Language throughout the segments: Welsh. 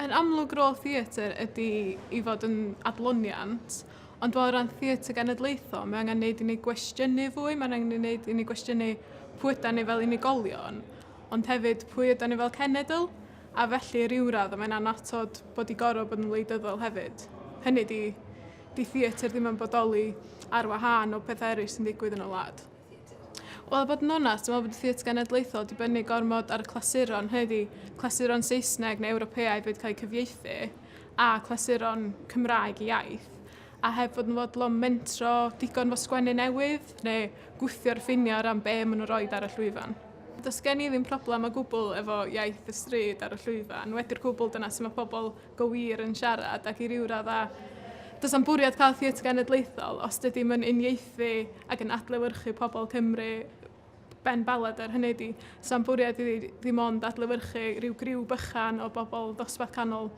Yn amlwg rôl theatr ydy i fod yn adloniant, ond o ran theatr genedlaethol, mae angen neud i ni gwestiynu fwy, mae angen ei wneud i ni gwestiynu pwy yda ni fel unigolion, ond hefyd pwy yda ni fel cenedl. a felly ryw radd mae'n annatod bod i gorfod bod yn wleidyddol hefyd. Hynny di, di theatr ddim yn bodoli ar wahân o pethau eraill sy'n digwydd yn y wlad. Wel, a bod yn onast, dwi'n meddwl bod y Theatr Genedlaethol wedi bynnu gormod ar y clasuron, hynny ydi, clasuron Saesneg neu Ewropeaidd wedi cael eu cyfieithu, a clasuron Cymraeg i iaith, a heb fod yn fodlon mentro digon fo sgwennu newydd, neu gwthio'r ffiniau o ran be maen nhw'n rhoi ar y llwyfan. Does gen i ddim problem o gwbl efo iaith y stryd ar y llwyfan, wedi'r cwbl dyna sut mae pobl go wir yn siarad ac i ryw raddau does na'm bwriad cael theatr genedlaethol os dydi'm yn uniaethu ac yn adlewyrchu pobl Cymru Ben Ballader, hynny ydi, sa'm bwriad i fi ddim ond adlewyrchu rhyw griw bychan o bobl dosbarth canol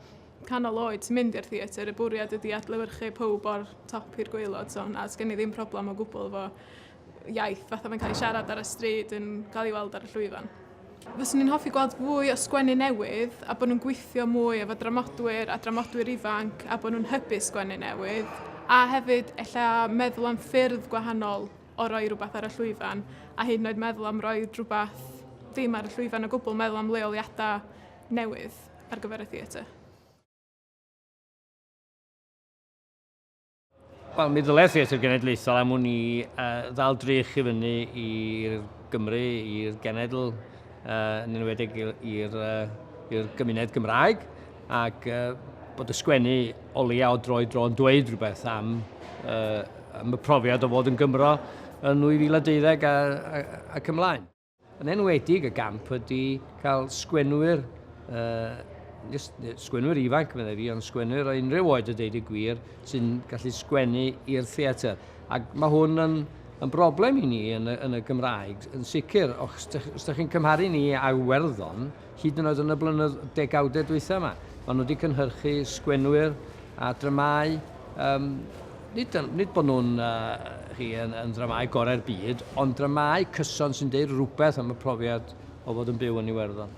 canol oed sy'n mynd i'r theatr, y bwriad ydi adlewyrchu pawb o'r top i'r gwaelod, so na, does gen i ddim problem o gwbl efo iaith, fatha mae'n cael ei siarad ar y stryd yn cael ei weld ar y llwyfan. Fyswn i'n hoffi gweld fwy o sgwennu newydd a bod nhw'n gweithio mwy efo dramodwyr a dramodwyr ifanc a bod nhw'n hybu sgwennu newydd a hefyd ella meddwl am ffyrdd gwahanol o roi rhywbeth ar y llwyfan a hyd yn oed meddwl am roi rhywbeth ddim ar y llwyfan o gwbl, meddwl am leoliadau newydd ar gyfer y theatr. Wel, mi ddylai Theatr Genedlaethol am hwn i uh, ddal drych i fyny i'r Gymru, i'r genedl, uh, yn enwedig i'r uh, gymuned Gymraeg, ac uh, bod y sgwennu o leia o droi dro'n dweud rhywbeth am, uh, am y profiad o fod yn Gymro yn 2012 ac ymlaen. Yn enwedig y gamp ydy cael sgwenwyr, uh, just sgwenwyr ifanc, meddai fi, ond sgwenwyr o unrhyw oed y deud y gwir, sy'n gallu sgwennu i'r theatr. Ac mae hwn yn, yn broblem i ni yn y, yn y Gymraeg, yn sicr, os ydych chi'n cymharu ni â Iwerddon, Hyd yn oed yn y blynyddoedd, degawdau dwytha yma, maen nhw wedi cynhyrchu sgwenwyr a dramâu, um, nid, nid bod nhw'n uh, yn, yn dramâu gorau'r byd, ond dramâu cyson sy'n deud rhywbeth am y profiad o fod yn byw yn Iwerddon.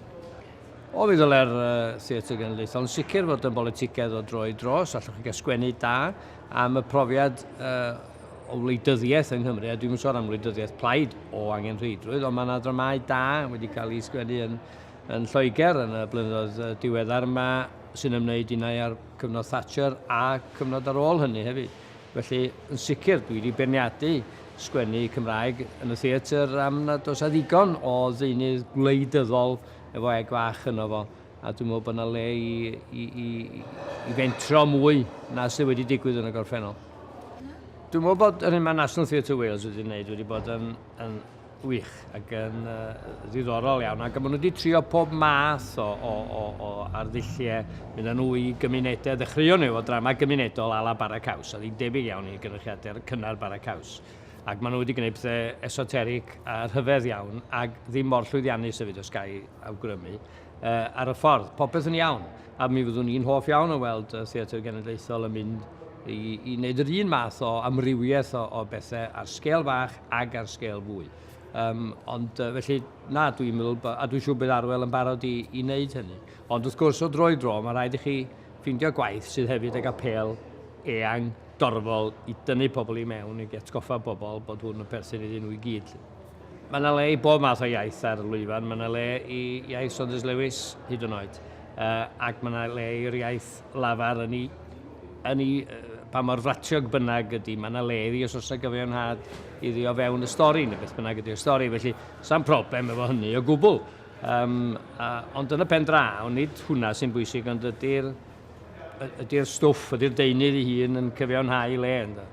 O, mi ddyle'r uh, Theatr Genedlaethol yn sicr fod yn bolitigedd o droi dros, allwch chi gael sgwennu da am y profiad uh, o wleidyddiaeth yng Nghymru, a dwi'n yn sôn am wleidyddiaeth plaid o angen rheidrwydd, ond mae yna dramau da wedi cael ei sgwennu yn, yn Lloegr yn y blynyddoedd diweddar yma sy'n ymwneud unau â'r cyfnod Thatcher a cyfnod ar ôl hynny hefyd. Felly, yn sicr, dwi wedi berniadu sgwennu Cymraeg yn y theatr am nad oes a ddigon o ddeunydd gwleidyddol efo eg fach yno fo. A dwi'n meddwl bod yna le i, i, i, i fentro mwy na sydd wedi digwydd yn y gorffennol. Dwi'n meddwl bod yr hyn mae National Theatre Wales wedi gwneud wedi bod yn, yn wych ac yn uh, ddiddorol iawn ac maen nhw wedi trio pob math o, o, o, o arddulliau mynd â nhw i gymunedau ddechreuon nhw efo drama gymunedol a la bara caws a ddim debyg iawn i gynrychiadau'r cynnar bara caws ac maen nhw wedi gwneud pethau esoteric a rhyfedd iawn ac ddim mor llwyddiannus hefyd os gael awgrymu uh, ar y ffordd. Popeth yn iawn. A mi fyddwn i'n hoff iawn o weld y Theatr Genedlaethol yn mynd i, i wneud yr un math o amrywiaeth o, o bethau ar sgel fach ag ar sgel fwy. Um, ond uh, felly, na, dwi'n meddwl, a dwi'n siŵr bydd Arwel yn barod i, i wneud hynny. Ond wrth gwrs, o dro i dro, mae rhaid i chi ffeindio gwaith sydd hefyd ag apel eang dorfol i dynnu pobl i mewn, i atgoffa bobl bod hwn yn perthyn iddyn nhw i gyd. Mae yna le i bob math o iaith ar y lwyfan, mae yna le i iaith Saunders Lewis hyd yn oed, uh, ac mae yna le i'r iaith lafar yn ei, yn ei uh, pa mor fratiog bynnag ydy, mae yna le iddi os oes yna gyfiawnhad iddi o fewn y stori, neu beth bynnag ydy'r stori, felly sa'n problem efo hynny o gwbl. Um, a, ond yn y pen draw, nid hwnna sy'n bwysig, ond ydy'r ydy stwff, ydy'r deunydd ei hun yn cyfiawnhau le ynddo.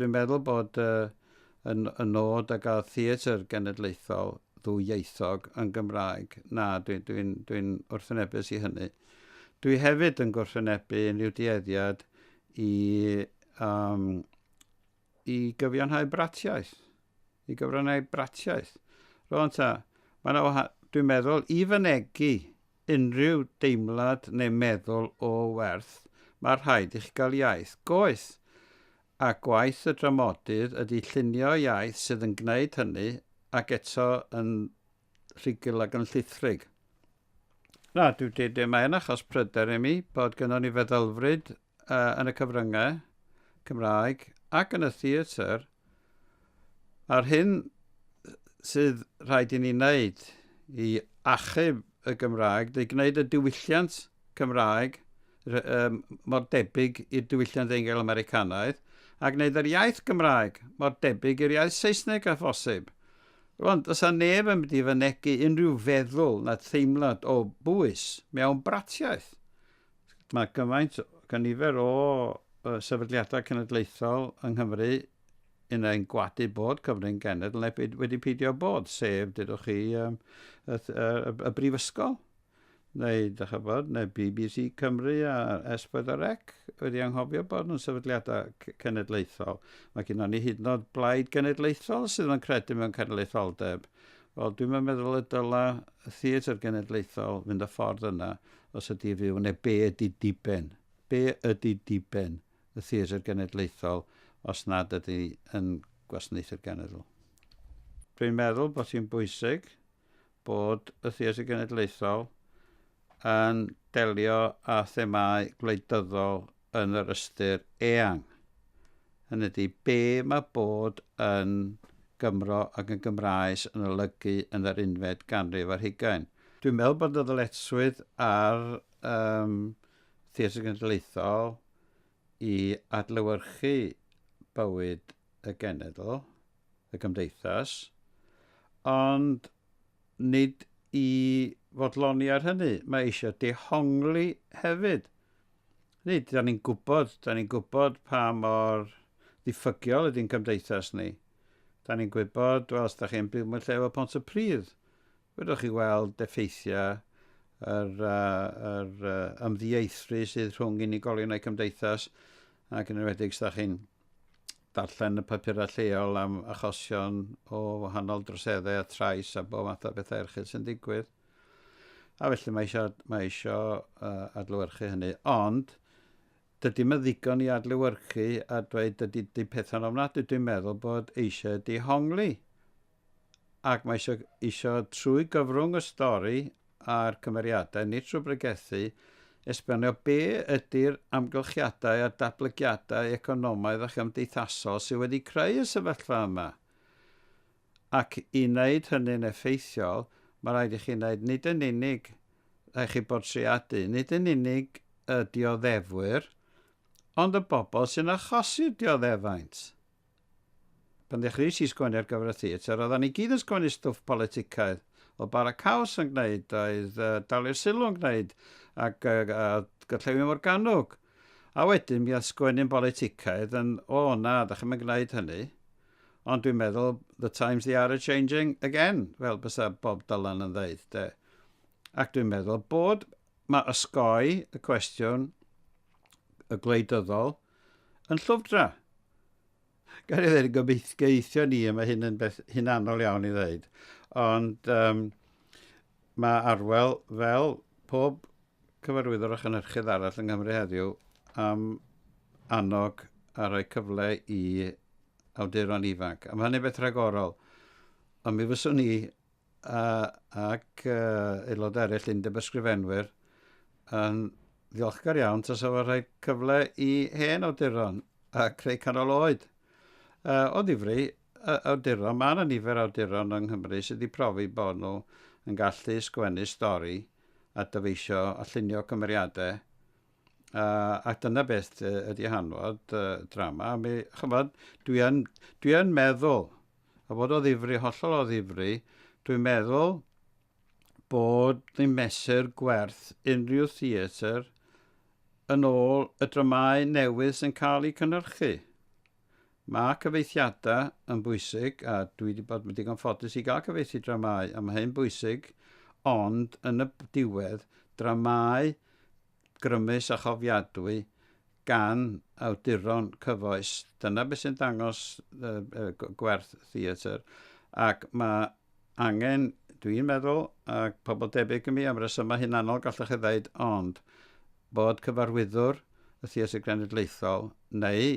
Dwi'n meddwl bod y, yn, y nod o gael theatr genedlaethol ddwyieithog yn Gymraeg. Na, dwi'n dwi, dwi, dwi wrthynebus i hynny. Dwi hefyd yn gwrthwynebu unrhyw dueddiad i, um, i gyfiawnhau bratiaeth. I gyfiawnhau bratiaeth. Rwan ta, mae yna wahan... Dwi'n meddwl, i fynegi unrhyw deimlad neu meddwl o werth, mae rhaid i chi gael iaith. Goeth! A gwaith y dramodydd ydy llunio iaith sydd yn gwneud hynny, ac eto yn rhugl ac yn llithrig. Na, dw, dw, mae yn achos pryder i mi bod gynnon ni feddylfryd uh, yn y cyfryngau Cymraeg ac yn y theatr, a'r hyn sydd rhaid i ni wneud i achub y Gymraeg, neu gwneud y diwylliant Cymraeg um, mor debyg i'r diwylliant Eingl Americanaidd, a gwneud yr iaith Gymraeg mor debyg i'r iaith Saesneg a phosib. Rwan, does a neb yn mynd i fynegu unrhyw feddwl na theimlad o bwys mewn bratiaeth. Mae cymaint gan nifer o sefydliadau cenedlaethol yng Nghymru yn ein gwadu bod cyfrwng genedl neu wedi peidio bod, sef, dydwch chi, um, y, y, y, y brifysgol, neu, da chybod, neu BBC Cymru a S4C wedi anghofio bod nhw'n sefydliadau cenedlaethol. Mae gen ni hyd yn oed blaid genedlaethol sydd yn credu mewn cenedlaetholdeb. Wel, dwi'm yn meddwl y dyla y Theatr Genedlaethol fynd y ffordd yna os ydi fyw, neu be ydi diben? Be ydi diben y Theatr Genedlaethol os nad ydi yn gwasanaethu'r genedl? Dwi'n meddwl bod hi'n bwysig bod y Theatr Genedlaethol yn delio â themâu gwleidyddol yn yr ystyr eang, hynny ydi, be mae bod yn Gymro ac yn Gymraes yn olygu yn yr unfed ganrif ar hugain. Dwi'n meddwl bod y ddyletswydd ar um, Theatr Genedlaethol i adlewyrchu bywyd y genedl, y gymdeithas, ond nid i fodloni ar hynny, mae eisiau dehongli hefyd. Nid, da ni'n gwybod, da ni'n gwybod pa mor ddiffygiol ydy'n cymdeithas ni. Da ni'n gwybod, wel, os da chi'n byw mewn lle efo pont y pridd, wyddoch chi weld effeithiau yr, uh, yr uh, ymddieithri sydd rhwng unigolion a'i cymdeithas, ac yn enwedig os da chi'n darllen y papurau lleol am achosion o wahanol droseddau a trais a bob math o bethau erchyll sy'n digwydd. A felly mae eisiau, mae eisiau uh, adlywyrchu hynny. Ond, dydy mae ddigon i adlywyrchu a dweud dydy di pethau'n ofnadwy. Dwi'n meddwl bod eisiau dihongli ac mae isio, isio trwy gyfrwng y stori a'r cymeriadau, nid trwy bregethu, esbonio be ydy'r amgylchiadau a'r datblygiadau economaidd a chymdeithasol sydd wedi creu y sefyllfa yma. Ac i wneud hynny'n effeithiol, mae rhaid i chi wneud nid yn unig, rhaid chi bortreadu, nid yn unig y dioddefwyr, ond y bobl sy'n achosi'r dioddefaint. Pan ddechreuais i sgwennu ar gyfer y theatr, oeddan ni gyd yn sgwennu stwff politicaidd. Oedd Bara Caws yn gwneud, oedd uh, Dalio'r Sylw yn gwneud, ac uh, a Gyllewin Morganwg. A wedyn mi oedd sgwennu'n politicaidd yn, o oh, na, da chi'n mynd gwneud hynny. Ond dwi'n meddwl, the times they are a-changing again, fel bysa Bob Dylan yn ddeud, de. Ac dwi'n meddwl bod mae ysgoi y cwestiwn y gwleidyddol Yn llwfdra! Gael ei ddweud yn gobeithio ni, a mae hyn yn beth hunanol iawn i ddweud, ond um, mae Arwel fel pob cyfarwyddwr a chynhyrchydd arall yng Nghymru heddiw am annog a rhoi cyfle i awduron ifanc. A mae hynny'n beth rhagorol. Ond mi fyswn ni a, ac uh, aelod eraill Undeb Ysgrifenwyr yn ddiolchgar iawn tas efo rhai cyfle i hen awduron a creu canol oed. Uh, o ddifri, uh, awduron, mae yna nifer awduron yng Nghymru sydd wedi profi bod nhw yn gallu sgwennu stori a dyfeisio a llunio cymeriadau ac dyna beth ydy hanfod drama. A mi, chymod, dwi yn, dwi yn meddwl, a fod o ddifri, hollol o ddifri, dwi'n meddwl bod ni'n mesur gwerth unrhyw theatr yn ôl y dramau newydd sy'n cael eu cynnyrchu. Mae cyfeithiadau yn bwysig a dwi wedi bod yn digon ffodus i gael cyfeithu dramâu a mae hyn bwysig ond yn y diwedd dramâu grymus a chofiadwy gan awduron cyfoes dyna beth sy'n dangos gwerth theatr ac mae angen dwi'n meddwl ac pobl debyg i mi am resymau hunanol gallwch chi ddeud ond bod Cyfarwyddwr y Theatr Genedlaethol neu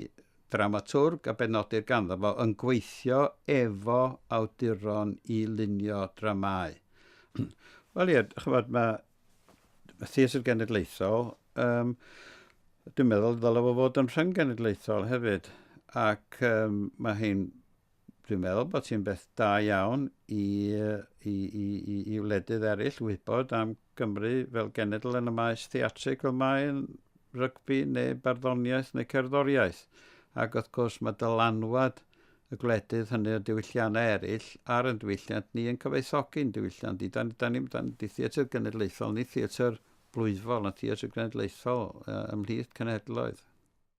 ddramatwrg a benodir ganddo fo yn gweithio efo awduron i lunio dramâu. Wel ie, chymod, mae y Theatr Genedlaethol, um, dwi'n meddwl ddylai fo fod yn rhyng genedlaethol hefyd, ac um, mae hi'n Dwi'n meddwl bod hi'n beth da iawn i, i, i, i, i wledydd eraill wybod am Gymru fel genedl yn y maes theatrig fel mae'n rygbi neu barddoniaeth neu cerddoriaeth. Ac wrth gwrs mae dylanwad y gwledydd hynny o diwylliannau eraill ar yn diwylliant ni yn cyfoethogi'n diwylliant ni. Da, da ni, da ni theatr genedlaethol, ni theatr blwyfol, na theatr genedlaethol ymhlith cenhedloedd.